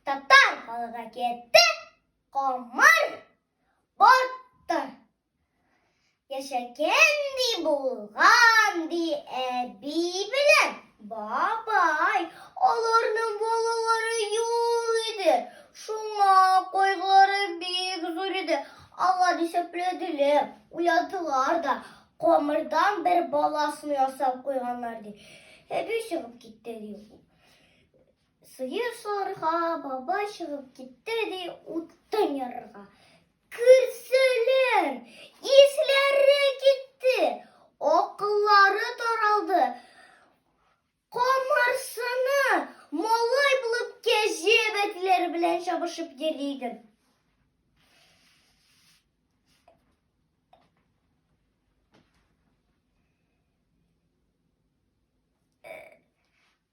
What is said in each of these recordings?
Татар халыгы әкияте Камыр батты. Яшәгән ди булган ди әби белән бабай. Аларның балалары юк иде. Шуңа кайгылары бик зур иде. Алар исәпләделәр, уйлатылар да. Камырдан бер баласын ясап куйганнар ди. Әби чыгып китте ди. Сыер сарга баба чыгып китте ди утын ярырга. Керсәләр, исләре китте, акыллары таралды. Камарсыны малай булып кәҗә бәтләре белән чабышып йөри иде.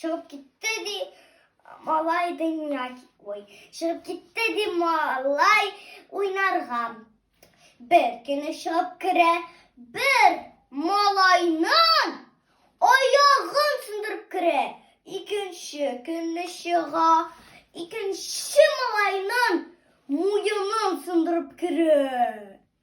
Чыгып китте ди малай дөнья ой чыгып китте ди малай уйнарга бер көне чыгып керә бер малайның аягын сындырып керә икенче көнне чыга икенче малайның муенын сындырып керә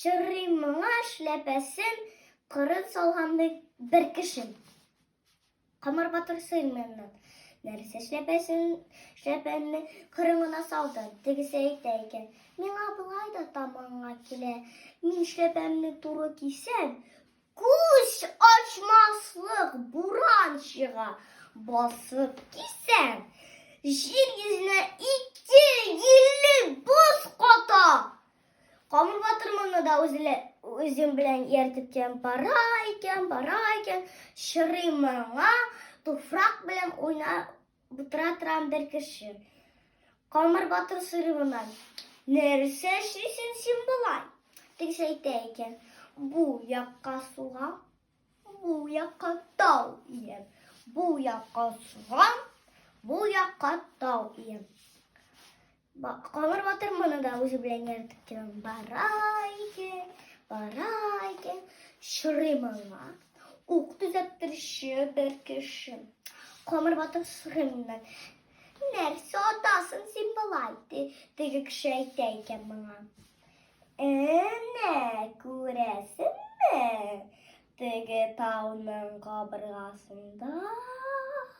Чыррый моңа эшләпәсен кырын салгандый бер кешен. Камар батыр сыймыннан нәрсә эшләпәсен эшләпәнне кырын гына салды. Тегесе әйтә икән, миңа болай да таманга килә. Мин эшләпәмне туры кисәм, күз ачмаслык буран чыга. Басып кисәм, җир йөзенә ике еллык боз ката. Камыр батырманы да үзле, үзем белән ияртеп кем бара икән, бара икән, чырый моңа, туфрак белән уйна утыра торган бер кеше. Камыр батыр сорый моннан, нәрсә эшлисең син болай? Тегесе әйтә икән, бу якка суга, бу якка тау иям, бу якка суга, бу якка тау иям. Бак, Камыр батыр моны да үзе белән яратып торам. Бара икән, бара икән, шырый маңа. Ук төзәттерүче бер кеше. Камыр батыр шырымнан. Нәрсә атасын син болай, ди, теге кеше әйтә икән моңа. Әнә, күрәсеңме? Теге тауның кабыргасында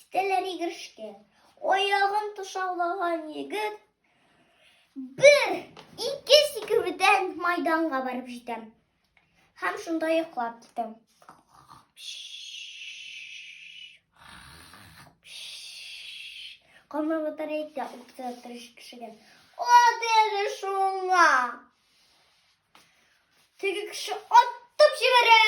Китәләр игрешкә. Аягын тышаулаган егет бер, ике сикерүдән майданга барып җитәм. Һәм шунда йоклап китәм. Камыр батарейка укта тырыш кешегә. Ат әле шуңа. Теге кеше аттып җибәрә.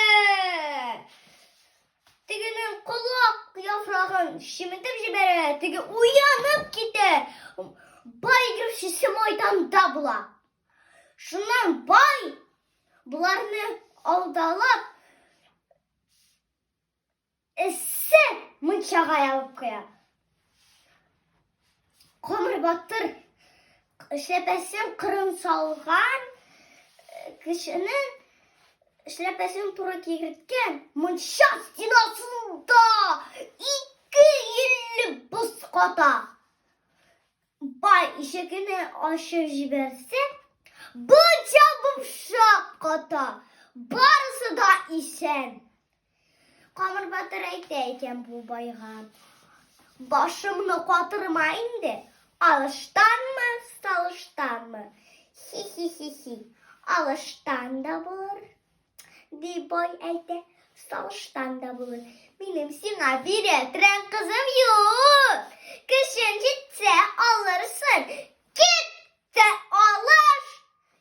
Тегенең колак яфрагын шиметеп җибәрә, теге уянып китә. Бай игрушчысы майданда була. Шуннан бай боларны алдалап эссе мунчага ябып куя. Камыр батыр эшләпәсен кырын салган э, кешенең эшләпәсен туры кигерткән мунча стенасында ике илле боз ката. Бай ишегене ачып җибәрсә, бунча бупшак ката. Барысы да исән. Камыр батыр әйтә икән бу байга. Башымны катырма инде, алыштанмы, салыштанмы? Хи-хи-хи-хи, алыштан да булыр, ди бай әйтә, салыштан да булыр. Минем сиңа бирә трән кызым юк. Көчен җитсә алырсың, кит тә алыш,